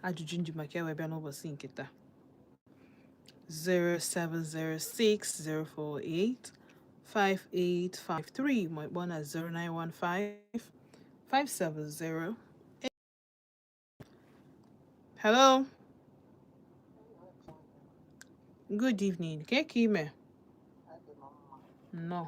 ajụjụ nji maka ya wee bịa n'ụbọsị nke taa 07060485853 ma ị kpọọ na 0915570 Hello Good evening. Kee ka ị mee? Nnọọ.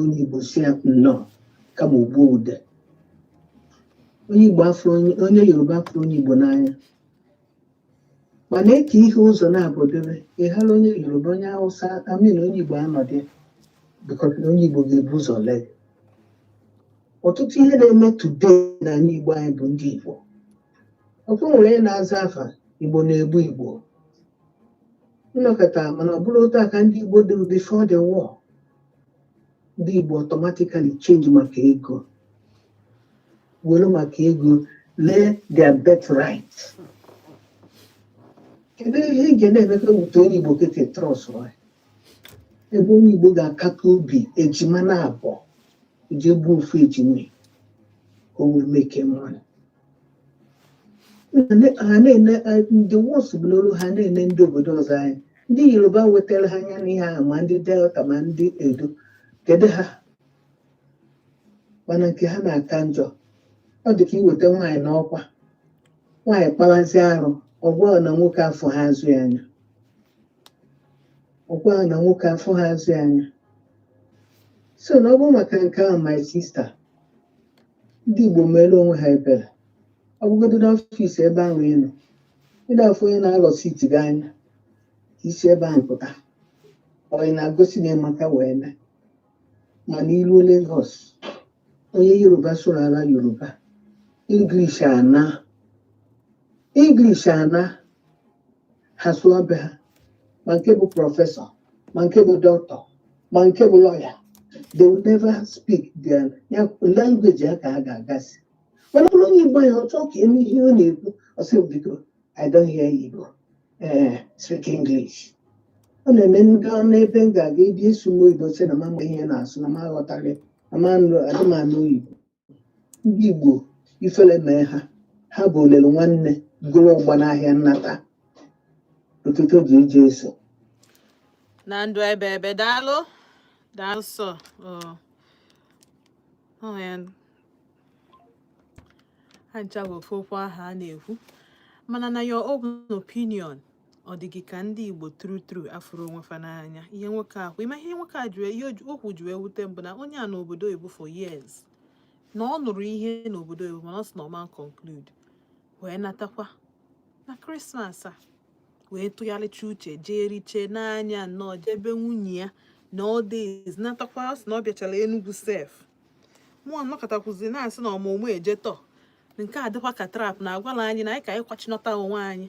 onye Igbo sị ya nnọọ kama o gbuo ude onye Igbo afọ onye Yoruba afụrọ onye Igbo n'anya mana e kee ihe ụzọ naabọ debe ị hara onye Yoruba onye Hausa I mean onye Igbo anọdị bikọta na onye Igbo ga-ebu ụzọ lee ọtụtụ ihe na-eme today n'anị Igbo anyị bụ ndị Igbo ọkụ nwere na-aza afa Igbo na-egbu Igbo ịnọkọta mana ọ bụrọ otu a ka ndị Igbo dịrị before the war ndị Igbo automatically change maka ego were maka ego lee their birth right kedu ihe ị ga na-emekwa wute onye Igbo kete trust ebe onye Igbo ga-akata obi ejima naabọ o je gbuo ofu ejima ka o wee make money ha na-ene ndị worse bụ n'olu ha na-ene ndị obodo ọzọ anyị ndị yoruba wetara ha anya n'ihe ahụ ma ndị delta ma ndị edo kedu ha mana nke ha na-aka njọ ọ dị ka iweta nwaanyị n'ọkwa nwaanyị kpawazi arụ ọ gwa na nwoke afụhọ azụ ya anya so na ọ bụ maka nke ahụ my sister ndị Igbo meere onwe ha ebere ọ bụgodị n'ọfịs ebe ahụ ị nọ ị na-afụ onye na-alọsi iti gị anya ka isi ebe ahụ pụta ọ ị na-agosi na ịmaka wee mee mana i ruo Lagos onye Yoruba sụrụ ala Yoruba English anaa English anaa ha sụọ be ha ma nke bụ prọfesọ ma nke bụ dọkịta ma nke bụ lọya they will never speak their language ha ka ha ga-agasị mana ọ bụrụ onye igbo ya ọ chọọ ka e mee ihe ọ na-ekwu ọ sị biko i don't hear igbo ee eh, speak english ọ na-eme ndị ọ n'ebe m ga-aga ịdị ịsụ m oyibo sị na m ama ihe na-asụ na m aghọtaghị na m anụ adị m anụ oyibo ndị Igbo ifele mee ha ha bụ o lelu nwanne gọrọ ụgba n'ahịa nnata ụtụtụ oge iji eso na ndụ ebe ebe daalụ daalụ sir ha ncha bụ ofu okwu ahụ a na-ekwu mana na your own opinion ọ dị gị ka ndị igbo tru tru afụrọ onwe fa n'anya ihe nwoke ahụ ị ma ihe nwoke a jụrụ ihe okwu ji wee wute m bụ na onye a nọ obodo oyibo for years na ọ nụrụ ihe n'obodo oyibo mana ọ sị na ọ ma conclude wee natakwa na krismas a wee tụgharịcha uche jee riche n'anya nnọọ jee be nwunye ya na ọ dịz natakwa ọ sị na ọ bịachara enugwu sef mụọ nọkọtakwuzi na-asị na ọmụmụ eje tọ nke a dịkwa ka trap na agwala anyị na anyị ka anyị kwachinọta onwe anyị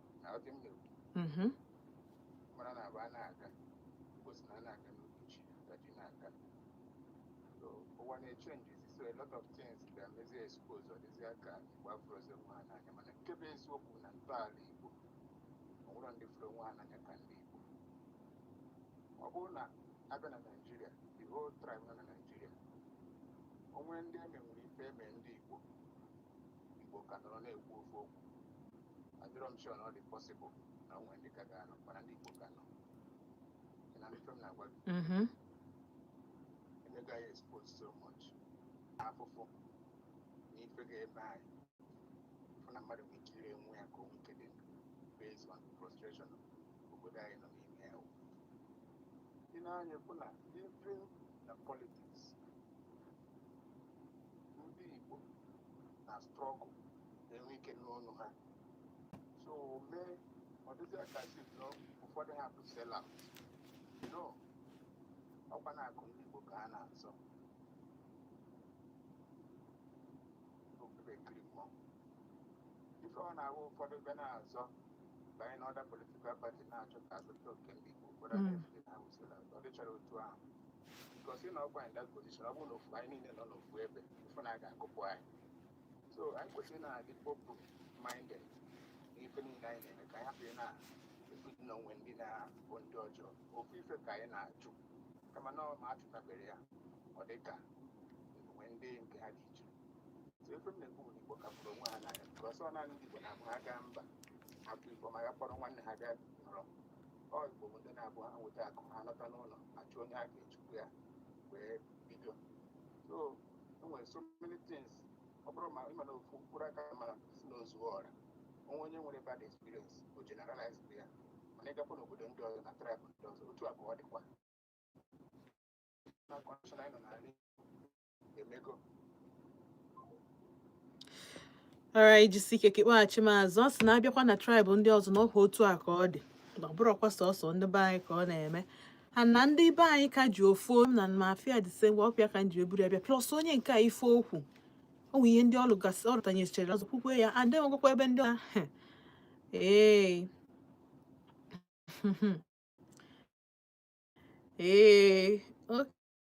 na ọ dị m na-ekwu Mhm. mara na aba na-aga gosi na a na-aga n'oge chi ka chi na-aga so ụwa na-echenjizi so a lot of things ga-emezi expose ọ dịzie ka igbo afụrọzi onwe ha n'anya mana nke bụ eziokwu na ntọala igbo o nwerọ ndị fụrụ onwe ha n'anya ka ndị igbo ọ bụrụ na a bịa na naijiria the whole tribe nọ na naijiria o nwee ndị eme nwere ife eme ndị igbo Igbo ka nọrọ na-ekwu ofu okwu adịrọ m sure na ọ dị possible na o nwe ndị ka ga-anọ mana ndị Igbo ka nọ Ị na ife m na-agwa gị Mhm. e mego anyị expose so much afụfụ na ife ga-eme anyị fụ na mmadụ nwere ike ire onwe ya ka o nwee ike dị ndụ based on the frustration of obodo anyị nọ n'ime ya ị na-anya fụ na even na politics ndị Igbo na struggle enwe ike n'ọnụ ha so o mee ọ dịzie ka a sị na ụfọdụ ha bụ sell out no ọ kwa na akụ ndị Igbo ka ha na-azọ okpukpekiri mmụọ ife ọ na-ahụ ụfọdụ bịa na-azọ banye n'other political party na-achọ ka a zọta oke ndị Igbo ụfọdụ Mm. na-eche na ọ bụ sell out ọ dịcharọ otu ahụ because ị nọkwa in that position ọ bụrụ na ofu anyị niile nọ n'ofu ebe ị fụ na a ga-agụpụ anyị so anyị kwesịrị na-adị open minded n'ife niile anyị na-eme ka anyị hapụ ị na-ebido na o nwe ndị na-abụ ndị ọjọọ ofu ife ka anyị na-ajụ kama na ọ ma achụtabere ya ọ dị ka o nwe ndị nke ha dị iche so ife m na-ekwu bụ na igbo ka fụrụ onwe ha n'anya because ọ naanị ndị igbo na-abụ ha gaa mba ha fụ ebe ọma ha kpọrọ nwanne ha bịa ọ igbo bụ ndị na-abụ ha nweta akụ ha lọta n'ụlọ a chọọ onye a ga-echukwu ya wee bido so e nwere so many things ọ bụrụ ma ị ma na ofu mkpụrụ aka mara nsị na o zuo ọra o nwee onye nwere bad experience o generalize ya mana ị gakwa n'obodo ndị ọzọ na tribe ndị ọzọ otu abụọ dịkwa na condition anyị nọ n'ala emego alright jisi ike ka ị kpọghachi m azụ ọ sị na abịakwa na tribe ndị ọzọ na ọkwa otu a ka ọ dị na ọ bụrọkwa sọsọ ndị be anyị ka ọ na-eme ha na ndị be anyị ka ji ofu na mafia dise ngwa ọpịa ka nji eburu abịa plus onye nke a ife o kwu o nwe ihe ndị ọlụ gasị ọ rụtanyechere azụ kwukwe ya adị nwegwakwa ebe ndị a ee ee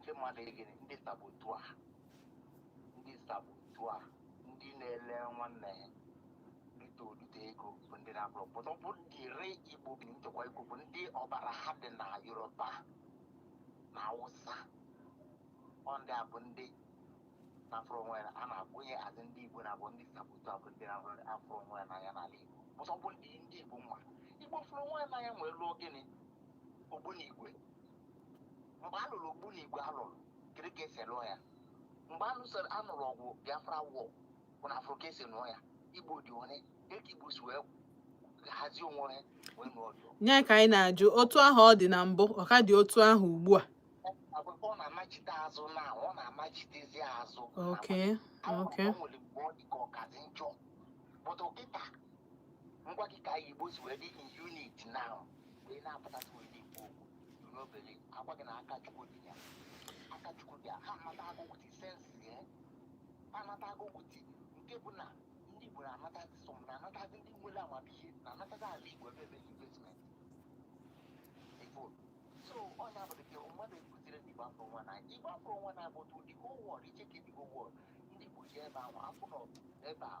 ndị mmadụ egere ndị saboteur ndị saboteur ndị na-ele nwanne ya rite orite ego bụ ndị na-abụrọ pụta ọ bụ ndị re igbo bi nchekwa igbo bụ ndị ọbara ha dị na yoruba na awụsa ọ ndị a bụ ndị na-afụrọ onwe ya n'anya azị ndị igbo na-abụ ndị saboteur bụ ndị na-afụrọ onwe ya n'anya n'ala igbo pụta ọ bụ ndị ndị igbo mma igbo fụrụ onwe ya n'anya nwee lụọ gịnị ogbunigwe mgbe a lụrụ ogbunigwe a lụrụ kedu ka esi lụọ ya mgbe a lụsịrị a nụrụ ọgụ biafra war bụ na afụrọ ka esi lụọ ya igbo dị one dịka igbo si wee hazie onwe ha wee nụọ ọ bụ ya ka anyị na-ajụ otu ahụ ọ dị na mbụ ọ ka dị otu ahụ ugbu a akwụkwọ ọ na-amachite azụ na ọ na-amachitezi azụ okay Ahụ okay ọ nwere mgbe ọ dị ka ọ kazi njọ but kịta m gwa gị ka igbo si wee dị in unity now mgbe ị na-apụtasị wee na-ekwu okwu you no believe agwa gị na aka chukwu dị ya aka chukwu dị ya ha anatago with sense ya ha anatago with nke bụ na ndị igbo na-anatazi some na-anatazi ndị nwere amamihe na-anatazi ala igbo ebe ebe investment ifo so onye abụrụ gị mmadụ ekuziri ndị igbo afọ nwa na igbo afọ nwa na-abụtụ the whole world i checkie the whole world ndị igbo ji ebe ahụ afọ nọ ebe a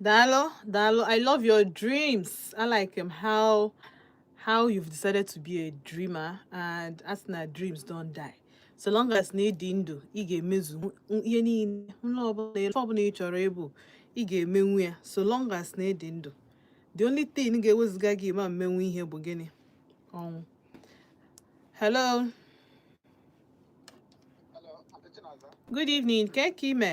Daalụ, daalụ, I love your dreams. I like how you've decided to be a dreamer and as na dreams don't die. So long as na ịdị ndụ, ị ga-emezu ihe niile nrọ ọbụla ife ọbụla ị chọrọ ịbụ, ị ga-emenwu ya so long as na ịdị ndụ. The only thing ga-emezi ka ị ma mmenwu ihe bụ gịnị? Ọnwụ. Hello. Good evening, kee ka ị me.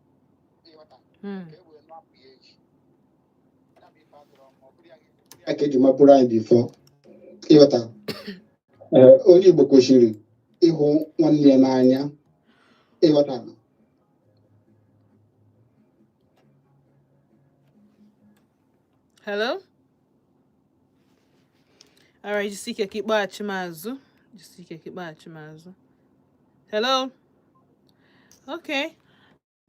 hmm. a ka eji mabụrụ anyị before ị ghọta eh, onye Igbo kwesịrị ịhụ nwanne ya n'anya ị ghọta hello alright jisi ike ka ị kpọghachi m azụ jisi ike ka ị kpọghachi m azụ hello okay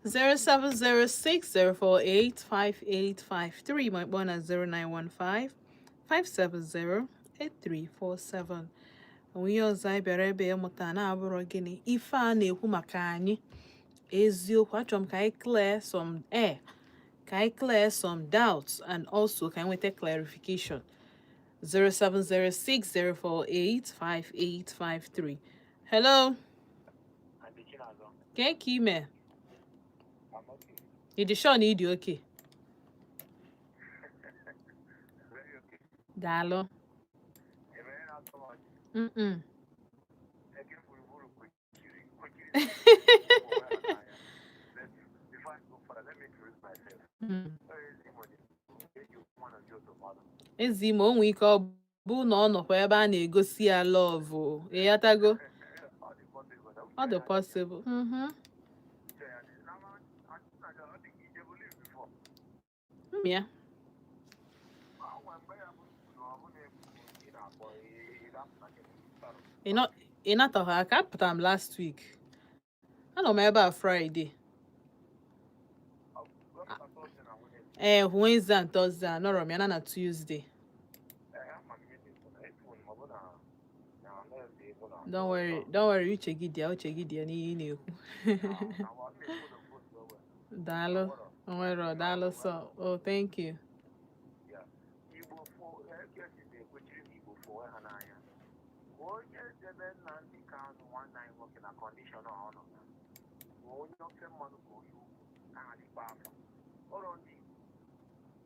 07060485853 ma ị kpọ na 0915 570 8347 o nwe ihe ọzọ anyị bịara ebe a ịmụta na-abụrọ gịnị ife a na-ekwu maka ya eziokwu achọrọ m ka anyị clear some air ka anyị clear some doubts and also ka anyị nweta clarification 07060485853 hello kee ka i me ị dị sure na ị dị okay daalụ mm Hmm. ezi ma o nwee ike ọ bụ na ọ nọkwa ebe a na-egosi ya love ị ghọtago ọ dị possible Yeah. Ị nataghị aka apụtara m last week. Anọ m ebe a Friday. Ee, eh, Wednesday and Thursday anọrọ m ya na na Tuesday. Don't worry, don't worry, uche gị dị ya, uche gị dị ya n'ihe ị na-ekwu. Daalụ, nwere ọ daalụ sọ. Oh, thank you. onye ofe mmanụ ka oyi ugwu na-adịkwa afọ ụlọ ndị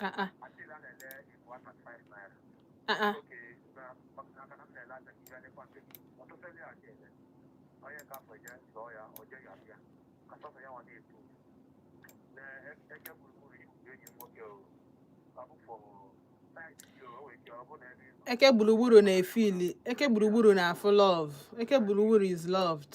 Ah, ah. Ah, ah. eke gburugburu na-efili eke gburugburu na-afụ love eke gburugburu is loved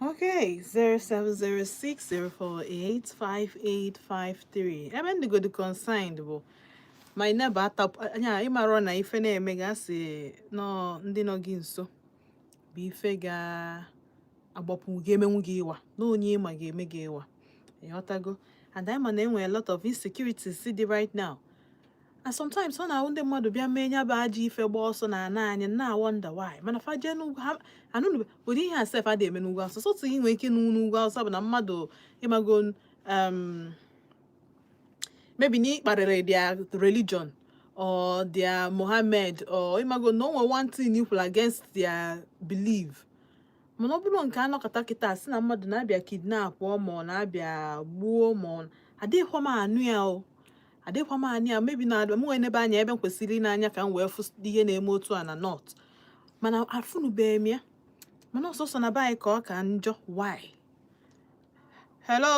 Okay, 07060485853. Ebe m dị godi concerned bụ my neighbor atap anya ị mara na ife na-eme gị a sị na ndị nọ gị nso bụ ife ga-agbapụ gị emenwu gị ịwa na onye ị ma ga-eme gị ịwa ị ghọtago and anyị ma na enwe a lot of insecurities dị right now and sometimes ọ na-ahụ ndị mmadụ bịa mee nya bụ ajọ ife gba ọsọ na ana anyị na wonder why mana fa jee n'ugwu ha anụnụ ụdị ihe a sef adị eme n'ugwu awụsa sọ otu ihe nwere ike n'ugwu n'ugwu awụsa bụ na mmadụ ịmago um, maybe na ị kparịrị their religion or their Mohammed or ịmago na o nwere one thing i kwuru against their belief mana ọ bụrụ nke a nọkata kịta sị na mmadụ na-abịa kidnapụọ mmadụ na-abịa gbuo mmadụ adịghịkwa m anụ ya o adịkwa m anụ ya maybe na m enenebe anya ebe m kwesịrị ine anya ka m wee fụ ihe na-eme otu a na north mana afụnụbeghị m ya mana ọ sọsọ na be anyị ka ọ ka njọ why hello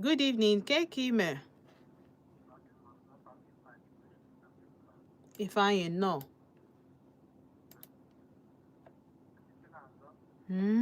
good evening kee ka i me Ifeanyị nnọọ hmm?